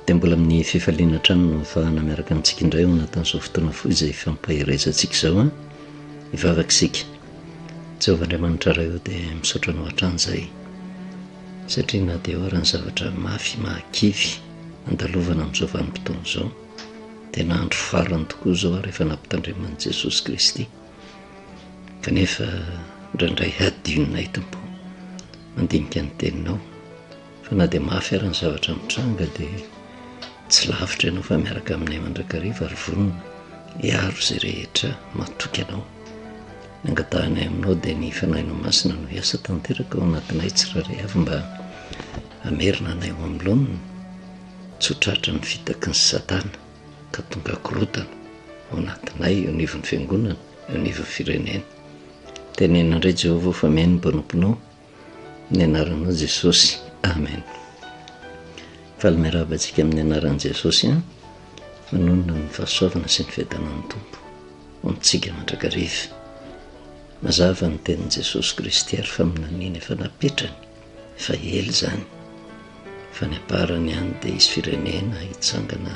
dia mbola amin'ny fifaliana hatrany no fahana miaraka amintsika indray ho anatin'izao fotoana fo izay fampaherezantsika izao an hivavaka isika jehovah andriamanitra ray eo dia misaotra anao hatrany izay satria na dia hoara ny zavatra mafy mahakivy andalovana amin'izao vanim-potoana izao dia nahandro farany tokoa izao ary efa nampitandreman'i jesosy kristy Kanefa indraindray hadinonay, Tompo, mandinika ny Teninao, fa na dia mafy ary ny zavatra mitranga, dia tsy lavitra Ianao fa miaraka aminay mandrakariva ary vonona hiaro izay rehetra matoky Anao. Ny angatahanay Aminao dia ny Fanahinao Masina no hiasa tanteraka ao anatinay tsirairay avy mba hamerina anay ho amin'ny laoniny, tsy ho tratran'ny fitaky ny Satana. ka tonga korotana ao anatinay eo anivon'ny fiangonana, eo anivon'ny firenena. Teneno indray Jehovah ho fameno ny mpanomponao ny anaranao Jesosy. Amen. Faly miarahaba antsika amin'ny anaran'i Jesosy an. Manonona ny fahasoavana sy ny fiadanan'ny Tompo ho amintsika mandrakariva. Mazava ny tenin'i Jesosy Kristy ary faminaniana efa napetrany Efa ela izany fa ny amparany ihany dia hisy firenena hitsangana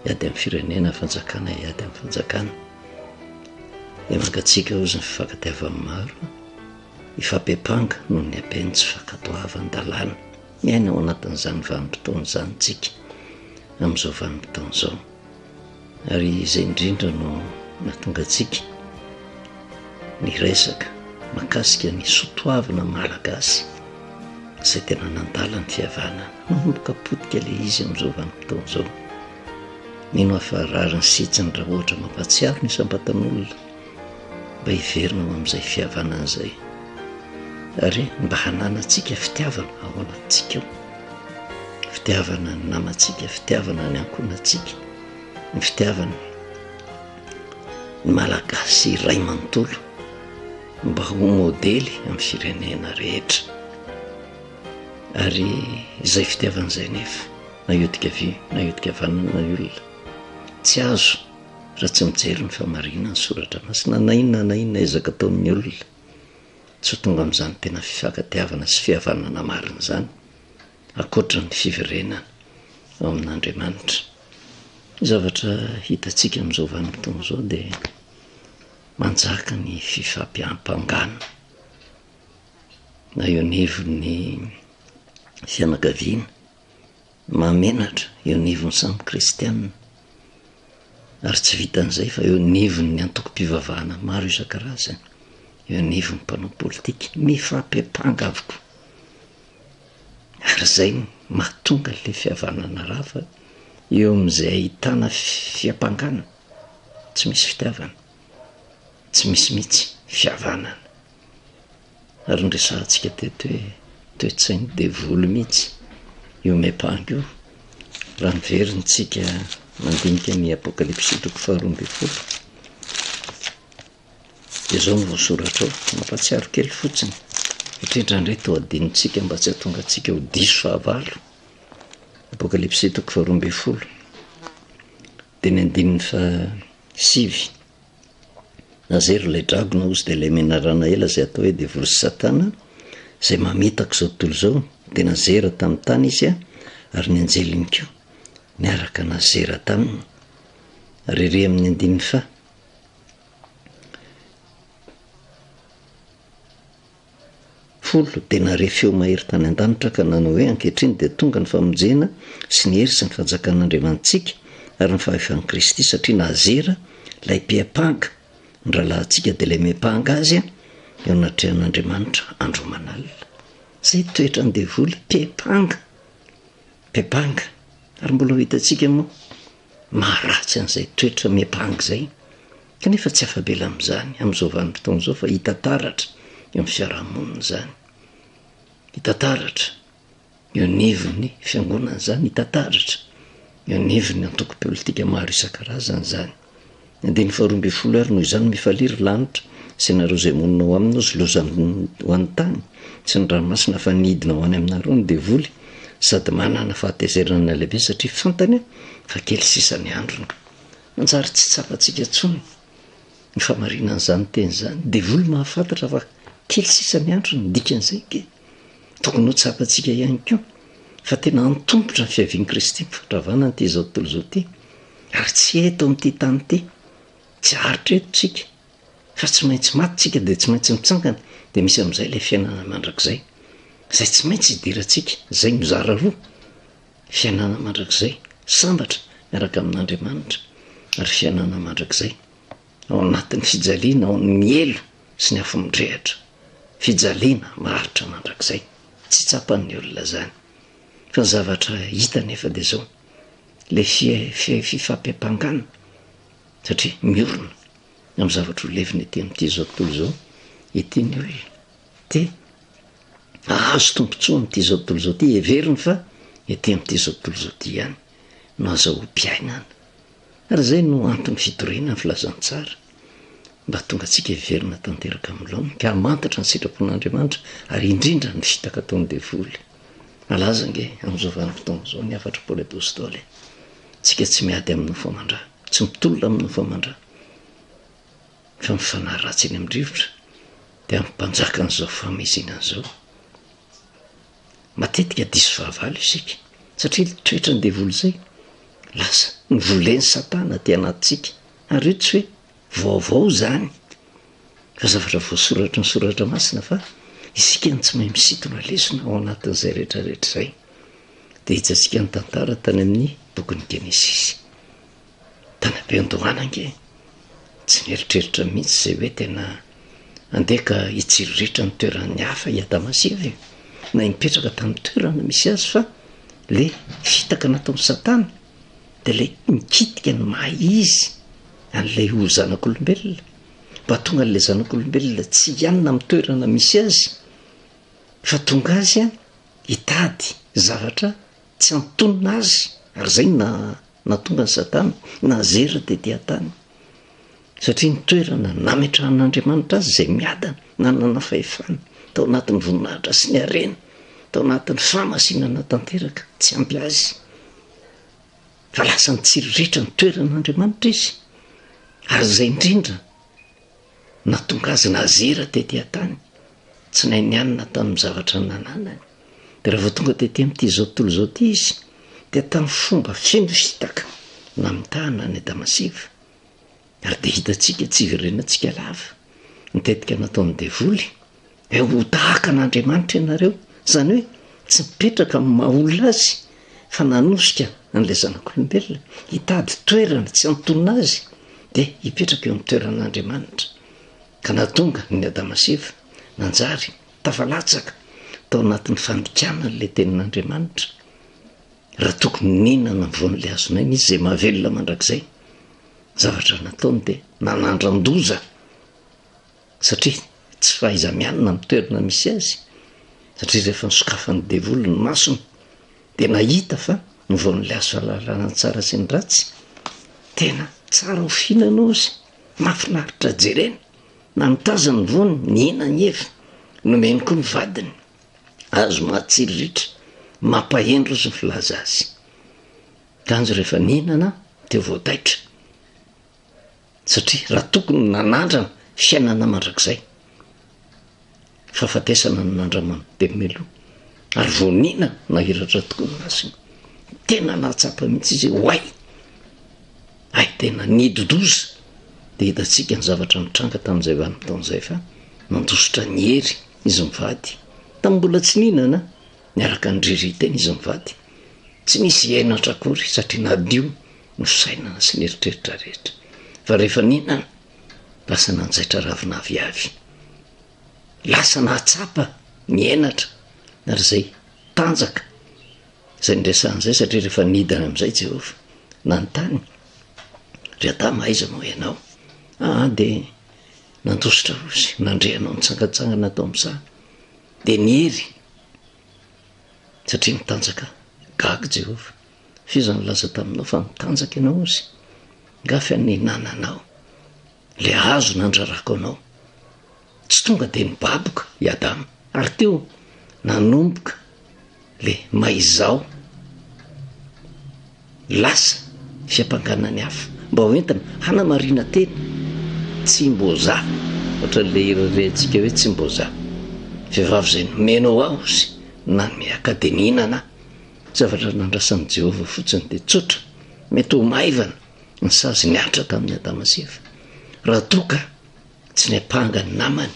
hiady amin'ny firenena, fanjakana hiady amin'ny fanjakana. Dia mangatsiaka hozy ny fifankatiavan'ny maro, hifampiampanga noho ny haben'ny tsy fankatoavan-dalàna. Miaina ao anatin'izany vanim-potoana izany isika, amin'izao vanim-potoana izao. Ary izay indrindra no nahatonga antsika niresaka mahakasika ny soatoavina malagasy izay tena nandala ny fihavanana. Manomboka potika ilay izy amin'izao vanim-potoana izao. Mino aho fa rariny sy hitsiny raha ohatra mampahatsiaro ny isam-batan'olona. mba hiverina ho amin'izay fihavanana izay ary mba hananantsika fitiavana ao anatintsika ao, fitiavana ny namantsika, fitiavana ny ankohonantsika, ny fitiavana ny Malagasy iray manontolo mba ho modely amin'ny firenena rehetra ary izay fitiavana izay nefa na iodika havia na iodika havanana na olona tsy azo. raha tsy mijery ny fahamarinan'ny soratra masina na inona na inona ezaka ataon'ny olona, tsy ho tonga amin'izany tena fifankatiavana sy fihavanana marina izany ankoatra ny fiverenana ao amin'Andriamanitra. Ny zavatra hitantsika amin'izao vanim-potoana izao dia manjaka ny fifampiampangana na eo anivon'ny fianakaviana, Mahamenatra eo anivon'ny samy kristiana, ary tsy vitan'izay fa eo anivon'ny antokom-pivavahana maro isan-karazany, eo anivon'ny mpanao politika, mifampepanga avokoa. Ary izay no mahatonga an'ilay fihavanana rava eo amin'izay ahitana fiampangana, tsy misy fitiavana, tsy misy mihitsy fihavanana. Ary noresahantsika teto hoe toe-tsain'ny devoly mihitsy io miampanga io, raha miverina antsika mandinika ny Apokalypsy toko faharoa ambin'ny folo, dia izao no voasoratra ao, mampahatsiaro kely fotsiny, satria indraindray toa adinontsika mba tsy hahatonga antsika ho diso fahavalo, Apokalypsy toko faharoa ambin'ny folo, dia ny andininy fahasivy. Na zay ry ilay dragona ozy dia ilay menarana ela izay atao hoe devoly sy satana izay mamitaka izao tontolo izao, dia nazera tamin'ny tany izy ary ny anjeliny koa niaraka nazera taminy. Ary ery amin'ny andininy faha. folo dia nare feo mahery tany an-danitra ka nanao hoe, Ankehitriny dia tonga ny famonjena sy ny hery sy ny fahajakan'Andriamanitsika ary ny fahefan'i Kristy satria nazera ilay mpiampanga ny rahalahintsika dia ilay miampanga azy eo anatrehan'Andriamanitra andro aman'alina. Izay toetran'ny devoly, mpiampanga, mpiampanga. Ary mbola ho hitantsika moa Maharatsy an'izay toetra miampanga izay, kanefa tsy afa-bela amin'izany amin'izao vanim-potoana izao fa hita taratra eo amin'ny fiarahamonina izany. Hita taratra eo anivon'ny fiangonana izany, hita taratra eo anivon'ny antoko politika maro isan-karazany izany. Andininy faharoa ambin'ny folo Ary noho izany mifalia, ry lanitra, sy ianareo izay monina ao aminy, sy loza ho an'ny tany sy ny ranomasina fa ny hidina ho any aminareo ny devoly, sady manana fahatezerana lehibe satria fantany fa kely sisa ny androny. Manjary tsy tsapantsika intsony ny fahamarinan'izany teny izany. Devoly mahafantatra fa kely sisa ny androny, ny dikan'izay dia. Tokony ho tsapantsika ihany koa fa tena antomotra ny fiavian'i Kristy am-pitondravana an'ity izao tontolo izao ity, ary tsy eto amin'ity tany ity. Tsy haharitra eto tsika, fa tsy maintsy maty tsika dia tsy maintsy mitsangana, dia misy amin'izay ilay fiainana mandrakizay, izay tsy maintsy hidirantsika, izay mizara roa, fiainana mandrakizay, sambatra miaraka amin'Andriamanitra, ary fiainana mandrakizay ao anatin'ny fijaliana, ao amin'ny helo. sy ny afo midrehitra, fijaliana maharitra mandrakizay. Tsy tsapan'ny olona izany. Fa ny zavatra hita anefa dia izao, ilay fifampiampangana, satria miorina amin'ny zavatra ho levona ety amin'ity izao tontolo izao ity ny olona. Dia hahazo tombontsoa amin'ity izao tontolo izao ity, heveriny fa ety amin'ity izao tontolo izao ity ihany no azahoam-piainana. Ary izay no antony fitoriana ny filazantsara, mba hahatonga antsika hiverina tanteraka amin'ny laoniny, ka hamantatra ny sitrapon'Andriamanitra, ary indrindra ny fitaka ataon'ny devoly. Malaza ange amin'izao vanim-potoana izao ny hafatr'i Paoly Apostoly, Isika tsy miady amin'ny nofo aman-drà, tsy mitolona amin'ny nofo aman-drà, fa ny fanahy ratsy eny amin-drivotra dia hampanjaka an'izao fahamezinana izao. Matetika diso fahavalo isika, satria ilay toetran'ny devoly izay, lasa novolen'i Satana aty anatintsika. Ary io tsy hoe vaovao izany, fa zavatra voasoratry ny Soratra Masina fa isika no tsy mahay misintona lesona ao anatin'izay rehetrarehetra izay. Dia hijantsika ny tantara tany amin'ny bokin'ny Genesisy. Tany am-piandohana ange tsy nieritreritra mihitsy izay hoe tena handeha ka hitsiriritra ny toeran'ny hafa i Adama sy Eva e. Na hipetraka tamin'ny toerana misy azy fa le fitaka nataon'i Satana dia ilay mikitika ny maha izy an'ilay ho zanak'olombelona mba tonga an'ilay zanak'olombelona tsy hianina amin'ny toerana misy azy fa tonga azy a hitady zavatra Tsy antonona azy ary zay na natonga ny satana nazera tety atany satria ny toerana nametrahan'Andriamanitra azy izay miadana nanana fahefana tao anatin'ny voninahitra sy ny harena tao anatin'ny fahamasinana tanteraka tsy ampy azy fa lasa nitsiriritra ny toeran'Andriamanitra izy ary zay indrindra Nahatonga azy nazera tety an-tany tsy nainianina tamin'ny zavatra nananany. Dia raha vao tonga tety amin'ity izao tontolo izao ity izy, dia tamin'ny fomba feno fitaka namitahana an'i Adamasiva. Ary dia hitantsika, tsy hiverenantsika lava, ny tetika nataon'ny devoly. dia ho tahaka an'Andriamanitra ianareo, izany hoe tsy mipetraka amin'ny maha olona azy fa nanosika an'ilay zanak'olombelona hitady toerana tsy antonona azy dia hipetraka eo amin'ny toeran'Andriamanitra ka nahatonga ny Adama sy Eva nanjary tafalatsaka tao anatin'ny fandikana ilay tenin'Andriamanitra raha tokony nihinana ny voan'ilay azon'aina izy izay mahavelona mandrakizay zavatra nataony dia nanandran-doza Satria tsy fahaiza-mianina amin'ny toerana misy azy, satria rehefa nosokafan'ny devoly ny masony dia nahita fa ny voan'ny laizo fahalalana ny tsara sy ny ratsy, tena tsara ho fihinana ozy, mahafinaritra jerena, na nitazana ny voany, nihina ny efa nomeny koa ny vadiny, azo mahatsiro ritra, mampahendry ozy ny filaza azy. Kanjo rehefa nihinana dia voataitra. satria raha tokony ny nanandrana fiainana mandrakizay, fahafatesana no nandramany, dia meloa. Ary voniana nahiratra tokoa ny masony. Tena nahatsapa mihitsy izy hoe oay! Hay tena nididoza! Dia hitantsika ny zavatra nitranga tamin'izay vanim-potoana izay fa nandositra ny hery izy mivady. Tamin'ny mbola tsy nihinana niaraka ny ririnteny izy mivady. Tsy nisy henatra akory satria nadio nosainana sy nieritreritra rehetra. Fa rehefa nihinana, lasa nanjaitra ravin'avy avy. Lasa nahatsapa ny henatra, ary izay tanjaka izay niresahany izay, satria rehefa nidina amin'izay Jehovah, nanontany, Ry Adama, aiza moa ianao? Aa dia nandositra ozy, nandre anao nitsangantsangana tao amin'ny saha, dia niery, satria nitanjaka gaga Jehovah. F'iza nilaza taminao fa mitanjaka ianao ozy? Nga fa nihinananao le hazo nandrarako anao? Tsy tonga de nibaboka i Adama. Ary teo nanomboka le maizao lasa fiampangana ny hafa mba ho entina hanamarina teny tsy mbo za ohatran'le hira rehatsika hoe tsy mbo za vehivavy zay nomena ho aho ozy nanome akademia nana Zavatra nandrasan'i Jehovah fotsiny dia tsotra, mety ho maivana ny sazy nihatra tamin'i Adama sy Eva, raha toa ka tsy niampanga ny namany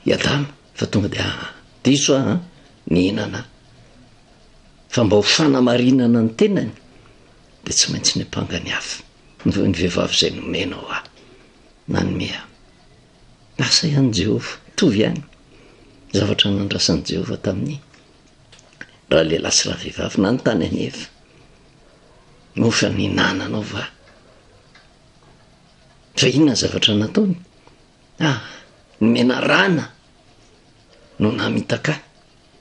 i Adama fa tonga dia diso aho nihinana aho. Fa mba ho fanamarinana ny tenany dia tsy maintsy niampanga ny hafa, ny vehivavy izay nomenao aho, nanome ahy. Asa ihany Jehovah, mitovy ihany ny zavatra nandrasan'i Jehovah tamin'i ralehilahy sy ravehivavy na ny tany aneva no efa nihinananao va fa inona ny zavatra nataony ah ny menarana no namitaka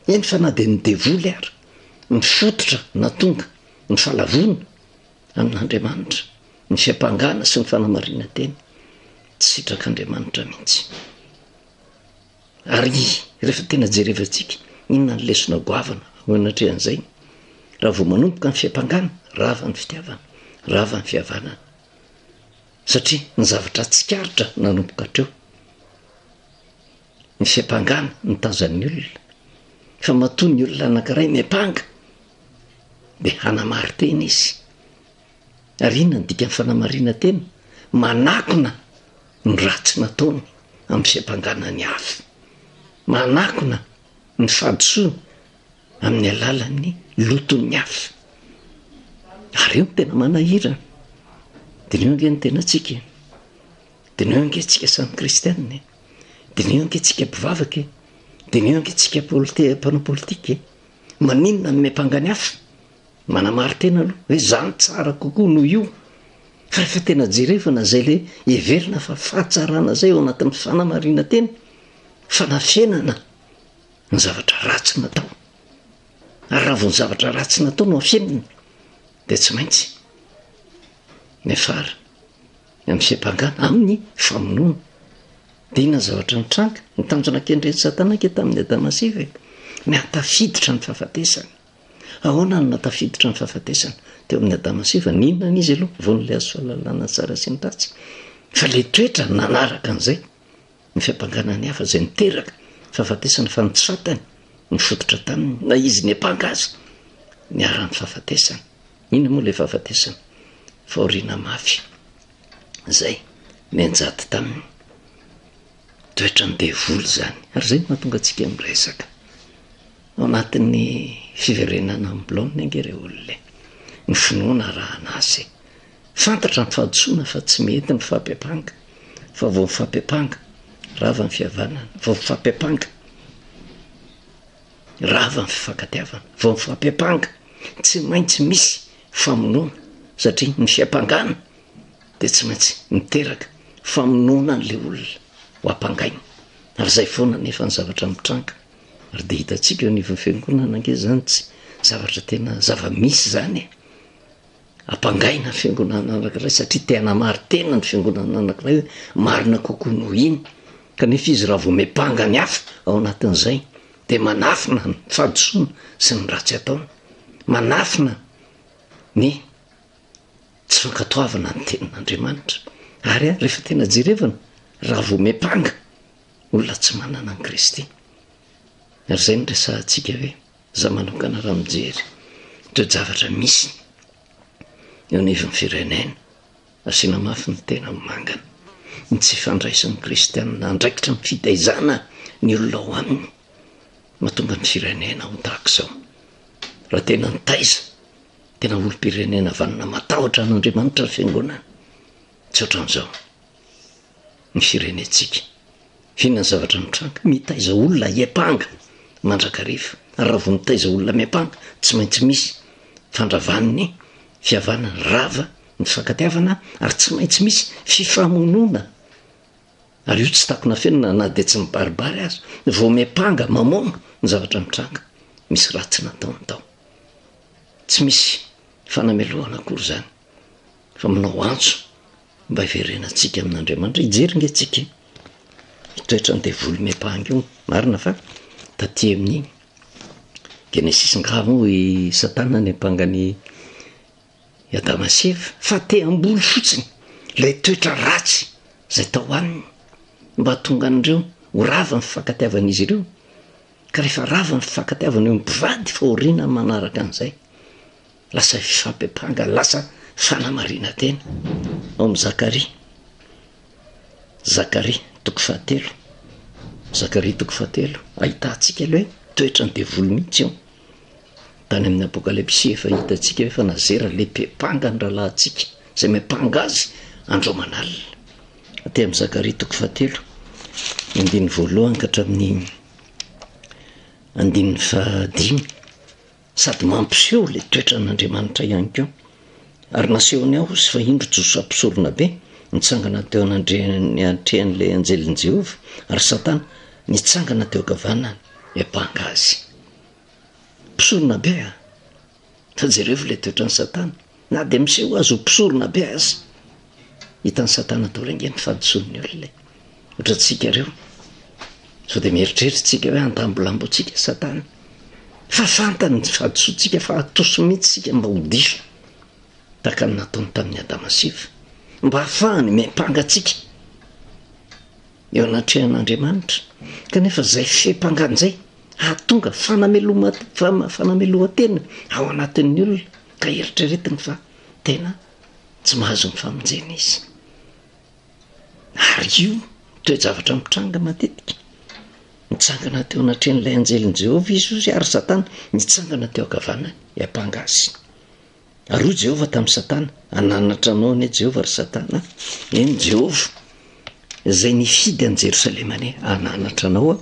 eny fa na dia ny devoly ary ny fototra na tonga ny falavona amin'andriamanitra ny fiampangana sy ny fanamarina teny tsy sitrak'andriamanitra mihitsy Ary rehefa tena jerevantsika, inona ny lesona goavana ho anatrehan'izay? Raha vao manomboka ny fiampangana, rava ny fitiavana, rava ny fihavanana. Satria ny zavatra tsikaritra nanomboka hatreo, ny fiampangana ny tazan'ny olona. Fa matoa ny olona anankiray miampanga, dia hanamary tena izy, Ary inona no dikan'ny fanamarinan-tena? Manakona ny ratsy nataony amin'ny fiampangana ny hafa. Manakona ny fahadisoany amin'ny alalan'ny loton'ny hafa. Ary io no tena manahirana. Diniho ange ny tenantsika e! Diniho ange antsika samy kristianina e! Diniho ange antsika mpivavaka e! Diniho ange antsika politi- mpanao politika e! Maninona no miampanga ny hafa? Manamari-tena aloha hoe zany tsara kokoa noho io fa rehefa tena jerevana izay ilay heverina fa fahatsarana izay ao anatin'ny fanamarinan-tena, fanafenana ny zavatra ratsy natao. Ary raha vao ny zavatra ratsy natao no afenina dia tsy maintsy miafara amin'ny fiampangana, amin'ny famonoana. Dia inona ny zavatra nitranga? Ny tanjona kendren'i Satana ange tamin'i Adama sy Eva e, ny hahatafiditra ny fahafatesana. Ahoana no nahatafiditra ny fahafatesana teo amin'i Adama sy Eva? Nihinana izy aloha voan'ilay hazo fahalalana ny tsara sy ny ratsy. Fa ilay toetra nanaraka an'izay, ny fiampangana ny hafa, izay niteraka fahafatesana, fa ny Satana nifototra taminy, na izy niampanga aza, niharan'ny fahafatesana. Inona moa ilay fahafatesana? Fahoriana mafy izay nianjady taminy. Toetran'ny devoly izany. Ary izay no mahatonga antsika miresaka. Ao anatin'ny fiverenana amin'ny blaonina ange ireo olona e. Ny finoana arahana azy e. Fantatra ny fahadisoana fa tsy mety ny fahapepanka, fa vao mifapepanka, rava ny fihavanana, vao mifapepanka, rava ny fifankatiavana, vao mifapepanka, tsy maintsy misy famonoana, satria ny fiampangana dia tsy maintsy miteraka famonoana an'ilay olona ho ampangaina. Ary izay foana anefa ny zavatra mitranga. Ary dia hitantsika eo anivon'ny fiangonana ange izany tsy zavatra tena zava-misy izany e. Ampangaina ny fiangonana anankiray satria te hanamary tena ny fiangonana anankiray hoe marina kokoa noho iny. Kanefa izy raha vao miampanga ny hafa ao anatin'izay dia manafina ny fahadisoana sy ny ratsy ataony. Manafina ny tsy fankatoavana ny tenin'Andriamanitra. Ary ary rehefa tena jerevana raha voamepanga olona tsy manana an'i Kristy. Ary izay no resahantsika hoe za manokana raha mijery ireo javatra misy eo anivon'ny firenena. Asiana mafy ny tena mangana ny tsy fandraisan'ny kristianina andraikitra ny fitaizana ny olona ao aminy mahatonga ny firenena ho tahaka izao. Raha tena nitaiza Tena olom-pirenena vanona matahotra an'Andriamanitra ny fiangonana. Tsy ohatran'izao ny firenentsika. Inona ny zavatra mitranga? Mitaiza olona hiampanga mandrakariva. Ary raha vao mitaiza olona miampanga, tsy maintsy misy fandravan'ny fihavanana, rava ny fifankatiavana ary tsy maintsy misy fifamonoana. Ary io tsy takona fenina na dia tsy mibaribary aza. Vao miampanga, mamono ny zavatra mitranga. Misy ratsy nataony tao. Tsy misy fanamelohana akory izany fa manao antso mba hiverenantsika amin'Andriamanitra. Hijery nge tsika ny toetran'ny devoly miampanga io. Marina fa taty amin'ny Genesisy ngaha moa i Satana niampanga ny i Adama sy Eva fa te hamboly fotsiny ilay toetra ratsy izay tao aminy mba hahatonga an'ireo ho rava ny fifankatiavan'izy ireo. Ka rehefa rava ny fifankatiavana eo amin'ny mpivady fahoriana manaraka an'izay, lasa fifampiampanga, lasa fanamarinan-tena. Ao amin'ny Zakaria, Zakaria toko fahatelo, Zakaria toko fahatelo, ahitantsika aloha hoe toetra ny devoly mihitsy eo. Tany amin'ny Apokalypsy efa hitantsika hoe fa nazera lehipe mpanga ny rahalahintsika, izay miampanga azy andro aman'alina. Dia amin'ny Zakaria toko fahatelo, ny andininy voalohany ka hatramin'ny andininy fahadimy, sady mampiseho ilay toetran'Andriamanitra ihany koa. Ary nasehony aho sy fa indro Josoa mpisorona be nitsangana teo anandreny atrehan'ilay anjelin'i Jehovah, ary Satana nitsangana teo ankavanany hiampanga azy. Mpisorona be a! Fa jerevo ilay toetran'i Satana, na dia miseho azy ho mpisorona be aza. Hitan'i Satana daholo ange ny fahadisoan'ny olona e. Ohatra antsika ireo, sao dia mieritreritra isika hoe handambolambo antsika i Satana. Fa fantany ny fahadisoantsika fa hatoso mihitsy isika mba ho diso, tahaka ny nataony tamin'i Adama sy Eva, mba hahafahany miampanga antsika eo anatrehan'Andriamanitra. Kanefa izay fiampangana izay hahatonga fanameloma- fanamelohan-tena ao anatin'ny olona ka eritreretiny fa tena tsy mahazo ny famonjena izy ary io toe-javatra mitranga matetika mitsangana teo anatrehan'ilay anjelin'i jehovah izy ozy ary satana mitsangana teo ankavanany iampanga azy Ary hoy Jehovah tamin'i Satana, Hananatra anao anie Jehovah, ry Satana a! Eny, Jehovah, izay nifidy an'i Jerosalema anie hananatra anao a!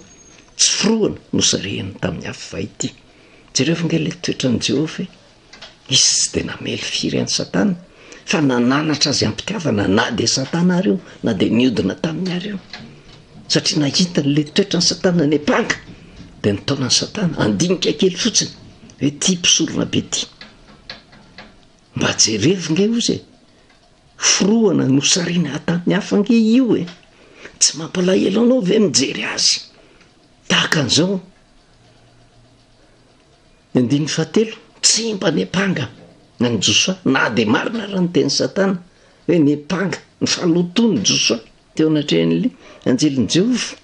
Tsy forohana no sarihiny tamin'ny afo vay ity. Jereo ve ange ilay toetran'i Jehovah e! Izy tsy dia namely firy an'i Satana, fa nananatra azy am-pitiavana, na dia Satana àry io, na dia niodina taminy àry io. Satria nahita ilay toetran'i Satana ny ampanga, dia nitaona an'i Satana handinika kely fotsiny hoe ity mpisorona be ity. Mba jerevo nge ozy e! Forohana no sarina hatan'ny hafa nge io e! Tsy mampalahelo anao ve mijery azy? Tahaka an'izao. Ny andininy fahatelo, tsy mba ny ampanga na ny Josoa, na dia marina ary ny tenin'i Satana hoe ny ampanga, ny fanoton'ny Josoa. Teo anatrehan'ny anjelin'i Jehovah,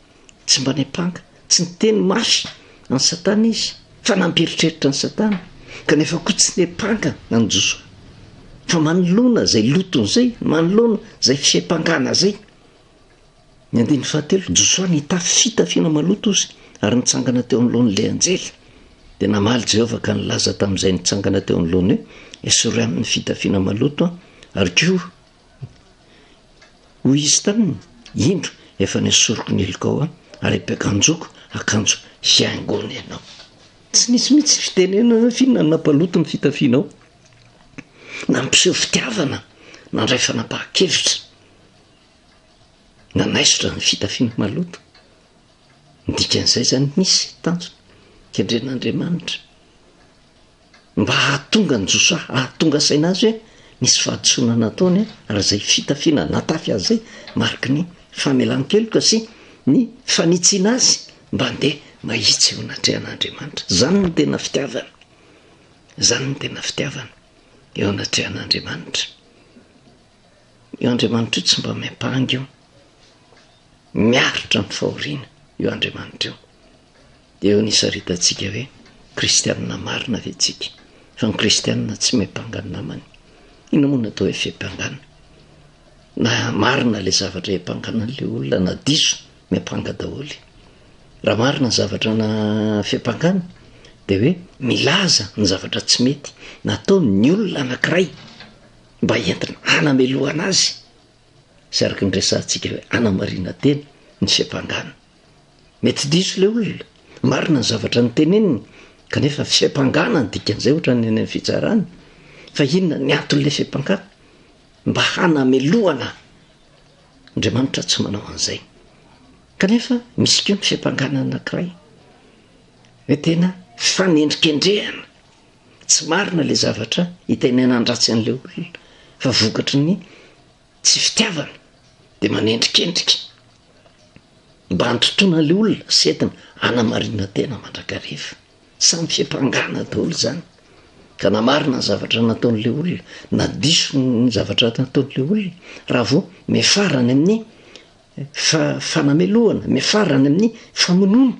tsy mba niampanga, tsy niteny mafy an'i Satana izy, fa nampieritreritra an'i Satana, kanefa koa tsy niampanga an'i Josoa. Fa manoloana izay lotony izay, manoloana izay fiampangana izay, ny andininy fahatelo, Josoa nitafy fitafiana maloto izy ary nitsangana teo anoloan'ilay anjely. Dia namaly Jehovah ka nilaza tamin'izay nitsangana teo anoloany hoe, Esory aminy ny fitafiana maloto, ary koa Hoy izy taminy, Indro, efa nesoriko ny helikao aho, ary ampiakanjoako akanjo hihaingoana ianao. Tsy nisy mihitsy fitenenana firy na nampaloto ny fitafianao, nampiseho fitiavana, nandray fanapahan-kevitra, nanaisotra ny fitafiana maloto. Ny dikan'izay izany, nisy tanjona kendren'Andriamanitra. mba hahatonga an'i Josoa hahatonga saina azy hoe nisy fahadisoana nataony ary izay fitafiana natafy azy izay mariky ny famelan-keloka sy ny fanitsiana azy mba handeha mahitsy eo anatrehan'Andriamanitra. Izany no tena fitiavana. Izany no tena fitiavana eo anatrehan'Andriamanitra. Io Andriamanitra io tsy mba miampanga io. Miaritra amin'ny fahoriana io Andriamanitra io. Dia eo no hisaritantsika hoe kristianina marina ve tsika? Fa ny kristianina tsy miampanga ny namany. Inona moa no atao hoe fiampangana? Na marina ilay zavatra hiampangana an'ilay olona na diso, miampanga daholo. Raha marina ny zavatra na fiampangana dia hoe milaza ny zavatra tsy mety natao ny olona anankiray mba entina hanamelohana azy sy araka ny resahantsika hoe anamarina teny ny fiampangana. Mety tsy diso ilay olona, marina ny zavatra noteneniny, kanefa fiampangana no dikan'izay ohatra ny any amin'ny fitsarana. Fa inona ny anton'ilay fiampangana? Mba hanamelohana ahy. Andriamanitra tsy manao an'izay. Kanefa misy koa ny fiampangana anankiray hoe tena fanendrikendrehana. Tsy marina ilay zavatra itenenan-dratsy an'ilay olona fa vokatry ny Tsy fitiavana de manendrikendrika mba antontona ilay olona sy entina hanamarina tena mandrakariva. Samy fiampangana daholo zany ka na marina ny zavatra nataon'la olona na diso ny zavatra nataon'la olona raha vao miafarany amin'ny fa fanamelohana miafarany amin'ny famonoana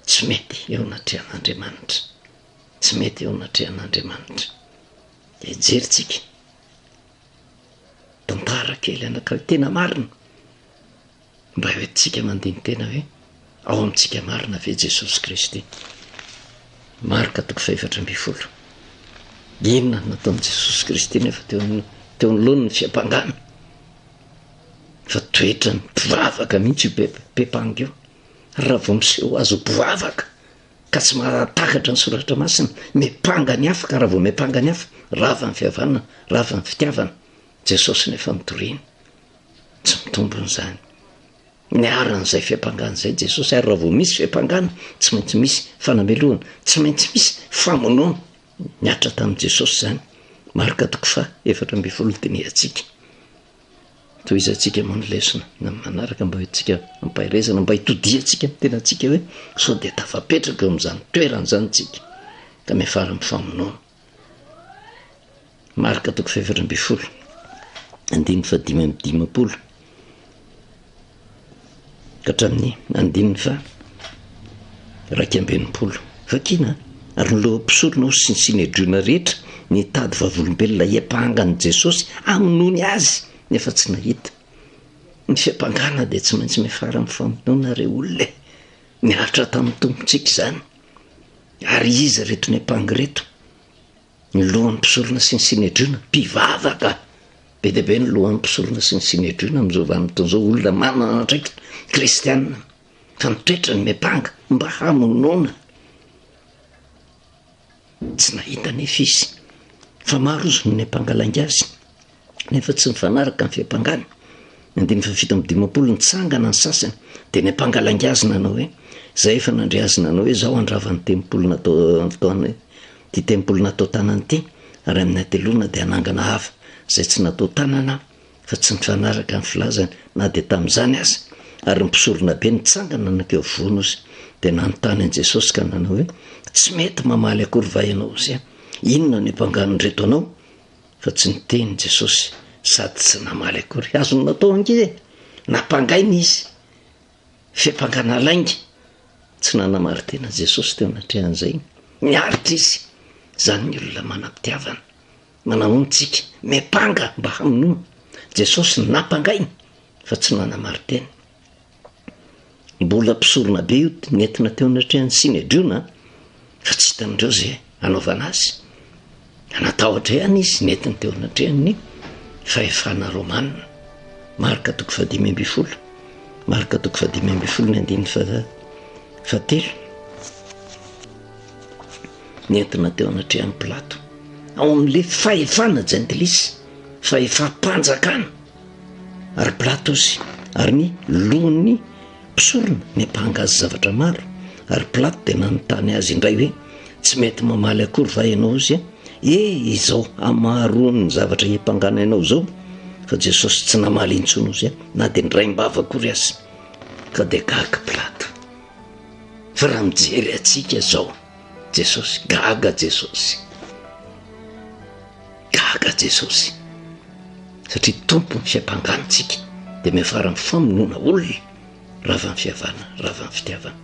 tsy mety eo anatrehan'andriamanitra tsy mety eo anatrehan'andriamanitra de jerintsika Tantara kely anankiray tena marina, mba entintsika mandini-tena hoe ao amintsika marina ve Jesosy Kristy? Marka toko fahefatra ambin'ny folo. Inona no nataon'i Jesosy Kristy nefa teo amin'ny teo anoloan'ny fiampangana? Fa toetrany mpivavaka mihitsy io be- be-panga io. Raha vao miseho azy ho mpivavaka, ka tsy mahatakatra ny soratra masina, miampanga ny hafa ka raha vao miampanga ny hafa, rava ny fihavanana, rava ny fitiavana, Jesosy nefa mitoriana. Tsy mitombona izany. Niarana izay fiampangana izay Jesosy ary raha vao misy fiampangana, tsy maintsy misy fanamelohana, tsy maintsy misy famonoana. Niatra tamin'i Jesosy izany. Marka toko fa efatra ambin'ny folo dinihantsika. Tohizantsika moa ny lesona eny amin'ny manaraka mba hoentintsika am-paherezana, mba hitodihantsika amin'ny tenantsika hoe sao dia tafapetraka eo amin'izany toerana izany isika ka miafara amin'ny famonoana. Marka toko fahefatra ambin'ny folo, andininy fahadimy amby dimampolo. ka hatramin'ny andininy faha raika amby enimpolo. Vakina ary noloan'ny mpisorona ho Sinsinedriona rehetra nitady vavolombelona hiampanga an'i Jesosy amin'ny nony Azy nefa tsy nahita. Ny fiampangana dia tsy maintsy miafara amin'ny famonoana re olona e! Niaritra tamin'ny Tompontsika izany. Ary iza ireto niampanga ireto? Ny lohan'ny mpisorona sy ny Synedriona, mpivavaka. Be dia be ny lohan'ny mpisorona sy ny Synedriona amin'izao vanim-potoana izao, olona manana andraikitra, kristiana, fa ny toetrany miampanga mba hamonoana. Tsy nahita anefa izy fa maro izy no niampanga lainga azy. nefa tsy mifanaraka ny fiampangana. Andininy fahafito amby dimampolo, nitsangana ny sasany, dia ny ampanga lainga azy nanao hoe, Izay efa nandre azy nanao hoe, Izao handrava ny tempoly natao taona, ity tempoly natao tanana ity, ary amin'ny hateloana dia hanangana hafa izay tsy natao tanana aho, fa tsy mifanaraka ny filazany na dia tamin'izany aza. Ary ny mpisoronabe nitsangana nankeo afovoany ozy, dia nanontany an'i Jesosy ka nanao hoe, Tsy mety mamaly akory va ianao ozy? Inona no iampangan'ireto anao? Fa tsy niteny Jesosy sady tsy namaly akory. Azony natao ange e! Nampangaina izy. Fiampangana lainga. Tsy nanamarin-tena Jesosy teo anatrehan'izay. Miaritra izy. Izany ny olona manam-pitiavana. Manahoana isika? Miampanga mba hamonoana. Jesosy nampangaina fa tsy nanamarin-tena. Mbola mpisorona be io nentina teo anatrehan'ny Synedriona fa tsy hitan'ireo izay hanaovana azy. Anatahotra ihany izy nentiny teo anatrehan'ny fahefana romana. Marka toko fahadimy ambin'ny folo. Marka toko fahadimy ambin'ny folo ny andininy fahatelo. Nentina teo anatrehan'ny Pilato. Ao amin'ilay fahefana jentilisa, fahefam-panjakana. ary Pilatos, ary ny lohan'ny mpisorona niampanga azy zavatra maro, ary Pilato dia nanontany azy indray hoe, Tsy mety mamaly akory va ianao azy? E! izao hamaroan'ny zavatra hiampangana ianao izao. Fa Jesosy tsy namaly intsony azy, na dia niraim-bava akory aza. Ka dia gaga Pilato. Fa raha mijery antsika izao, Jesosy, gaga Jesosy. Gaga Jesosy satria Tompon'ny fiampangana antsika dia miafara amin'ny famonoana olona ravan'ny fiavana, ravan'ny fitiavana.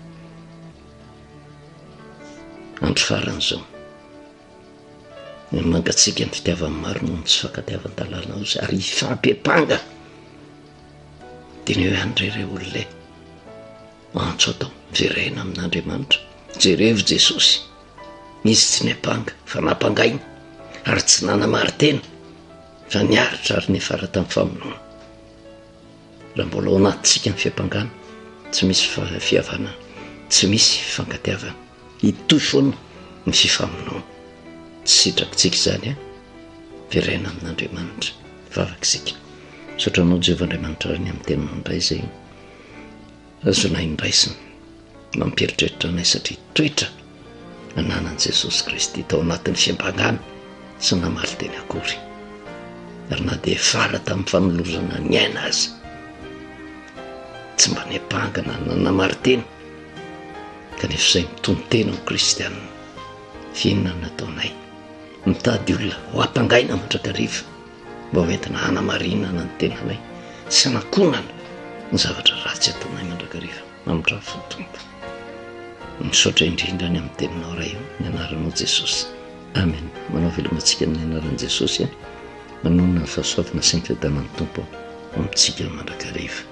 Andro farany izao. Mangatsika ny fitiavan'ny maro noho ny tsy fankatiavan-dalàna ozy ary hifampepanga. Dia ny hoe an'ireo olona e. antso atao jerena amin'Andriamanitra, jerevo Jesosy, izy tsy niampanga fa nampangaina ary tsy nanamarin-tena fa niaritra ary niafara tamin'ny famonoana. Raha mbola ao anatintsika ny fiampangana, tsy misy fihavanana, tsy misy fifankatiavana, hitohy foana ny fifamonoana. Tsy sitrakitsika izany a, jerena amin'Andriamanitra, vavaka isika. Misaotra anao Jehovah Andriamanitra ny amin'ny teninao indray izay. Azonay ny raisiny mampieritreritra anay satria toetra nananan'i Jesosy Kristy tao anatin'ny fiambangana tsy namaly teny akory. Ary na dia fara tamin'ny fanolozana ny aina aza, tsy mba niampangana na namaly teny, kanefa izay mitonon-tena ho kristianina. F'inona no nataonay? Mitady olona ho ampangaina mandrakariva. mba ho entina hanamarinana ny tenanay sy hanakonana ny zavatra ratsy ataonay mandrakariva mamindrafo ny tompo misaotra indrindra any amin'ny teninao ray io ny anaranao jesosy amen manao velomantsika amin'ny anaran'i jesosy a manonona ny fahasoavana sy ny fiadanan'ny tompo ho amintsika mandrakariva